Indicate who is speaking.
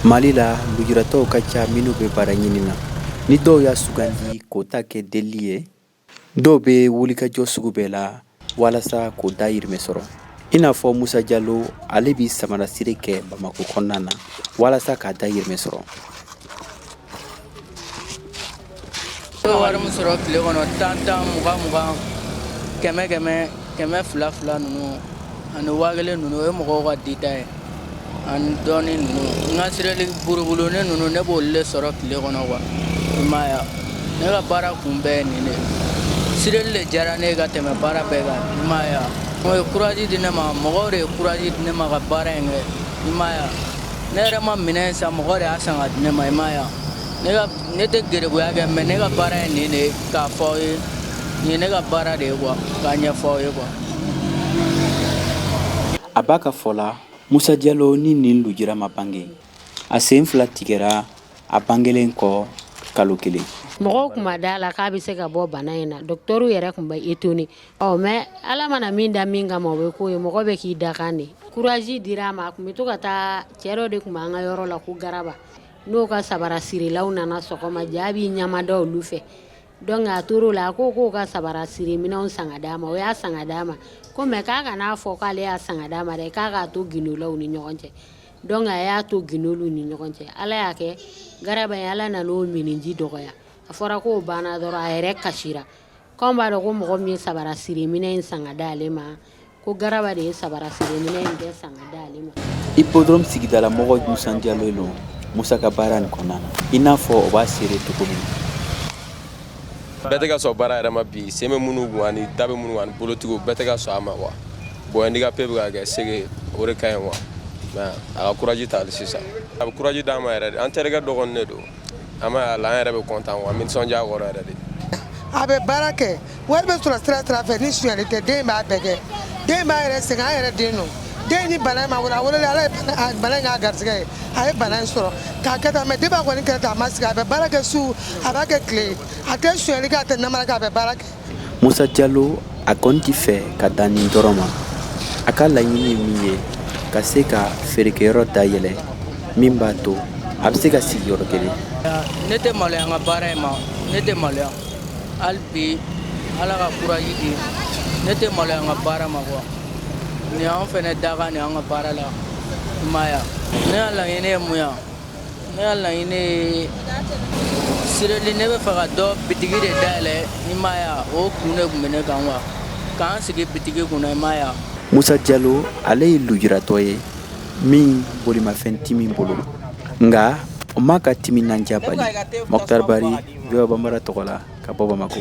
Speaker 1: Mali la lujuratɔw ka ca minnu bɛ baara ɲini na ni dɔw y'a sugandi k'o ta kɛ delili ye dɔw bɛ wulikajɔ sugu bɛɛ la walasa k'o dayirimɛ sɔrɔ i n'a fɔ musa jalo ale bɛ samarasiri kɛ bamakɔ kɔnɔna na walasa k'a dayirimɛ sɔrɔ
Speaker 2: wari min sɔrɔ tile kɔnɔ tan tan mugan mugan kɛmɛ kɛmɛ kɛmɛ fila fila ninnu ani waa kelen ninnu o ye mɔgɔw ka dita ye ani dɔɔni ninnu n ka sireli burubulunin ninnu ne b'olu le sɔrɔ tile kɔnɔ quoi i m'a ye ne ka baara kun bɛɛ ye nin de sireli le diyara ne ye ka tɛmɛ baara bɛɛ kan i m'a ye o ye kuraji di ne ma mɔgɔw de ye kuraji di ne ma ka baara in kɛ i m'a ye ne yɛrɛ ma minɛn san mɔgɔ de y'a san ka di ne ma i m'a ye wa ne ka ne tɛ gerebuya kɛ mais ne ka baara ye nin de ye k'a fɔ aw ye nin ye ne ka baara de ye quoi k'a ɲɛfɔ aw ye
Speaker 1: quoi a b'a ka fɔ la musa jalo ni nin lujira ma bange a sen fila tigɛra a bangelen kɔ kalo kelen mɔgɔw kun ma d'a
Speaker 3: la k'a bɛ se ka bɔ bana in na dɔgɔtɔrɔw yɛrɛ tun bɛ étonné Ɔ mais Ala mana min da min kama o bɛ k'o ye mɔgɔ bɛ k'i dakan de courage dir'a ma a tun bɛ to ka taa cɛ dɔ de tun b'an ka yɔrɔ la ko Garaba n'o ka sabara sirilaw nana sɔgɔma ja b'i ɲamada olu fɛ donc a tor'o la a ko k'o ka sabara siri minɛnw san ka d'a ma o y'a san ka d'a ma ko mais k'a kan'a fɔ k'ale y'a san ka d'a ma dɛ k'a k'a to gindo la u ni ɲɔgɔn cɛ donc a y'a to gindo l'u ni ɲɔgɔn cɛ Ala y'a kɛ Garaba in Ala nan'o minniji dɔgɔya a fɔra k'o banna dɔrɔn a yɛrɛ kasira K'an b'a dɔn ko mɔgɔ min ye sabara siri minɛn in san ka di ale ma, ko Garaba de ye sabara siri minɛn in bɛɛ san ka di ale ma. Hippodrome sigidala
Speaker 1: mɔgɔw nisɔndiyalen don Musa ka baara nin kɔnɔna na, i n'a fɔ o b'a seere cogo min na.
Speaker 4: Bɛɛ tɛ ka sɔn baara yɛrɛ ma bi, sen bɛ minnu kun ani da bɛ minnu kun ani bolotigiw bɛɛ tɛ ka sɔn a ma quoi, bon handicapé bɛ ka kɛ c'est que o de ka ɲi quoi mais a ka courage ta hali sisan, a bɛ courage d'an ma yɛrɛ de, an terikɛ dɔ kɔni de don. an b'a ye a la an yɛrɛ bɛ content quoi an bɛ nisɔndiya a kɔrɔ yɛrɛ de a bɛ
Speaker 5: baara kɛ wari bɛ sɔrɔ sira sira fɛ ni sonyali tɛ den in b'a bɛɛ kɛ den in b'a yɛrɛ sɛgɛn an yɛrɛ den don den in ni bana in ma wolo a wololen ala ye bana- a- bana in k'a garisɛgɛ ye a ye bana in sɔrɔ k'a kɛ tan mais depuis a kɔni kɛra tan a ma sigi a bɛ baara kɛ su a b'a kɛ tile a tɛ sonyali kɛ a tɛ namara kɛ a bɛ baara kɛ Musa Jalo
Speaker 1: a kɔni tɛ fɛ ka dan nin dɔrɔn ma. A ka laɲini ye min ye, ka se ka feerekɛyɔrɔ dayɛlɛ min b'a to a bɛ se ka sigi yɔrɔ kelen. Ne tɛ maloya
Speaker 2: n ka baara in ma, ne tɛ maloya hali bi Ala ka kuraji di, ne tɛ maloya n ka baara ma quoi nin y'an fana dakan de ye an ka baara la, i m'a ye wa, ne ka laɲini ye mun ye Ne ka laɲini ye seedili ne b'a fɛ ka dɔ bitigi de dayɛlɛ i m'a ye wa o kun de kun bɛ ne kan wa k'an sigi bitigi kun na i m'a ye wa musa jalo
Speaker 1: ale ye lujuratɔ ye min bolimafɛn ti min bolo nka o m'a ka timinandiya bali mɔtari bari VOA bambara tɔgɔ la ka bɔ bamakɔ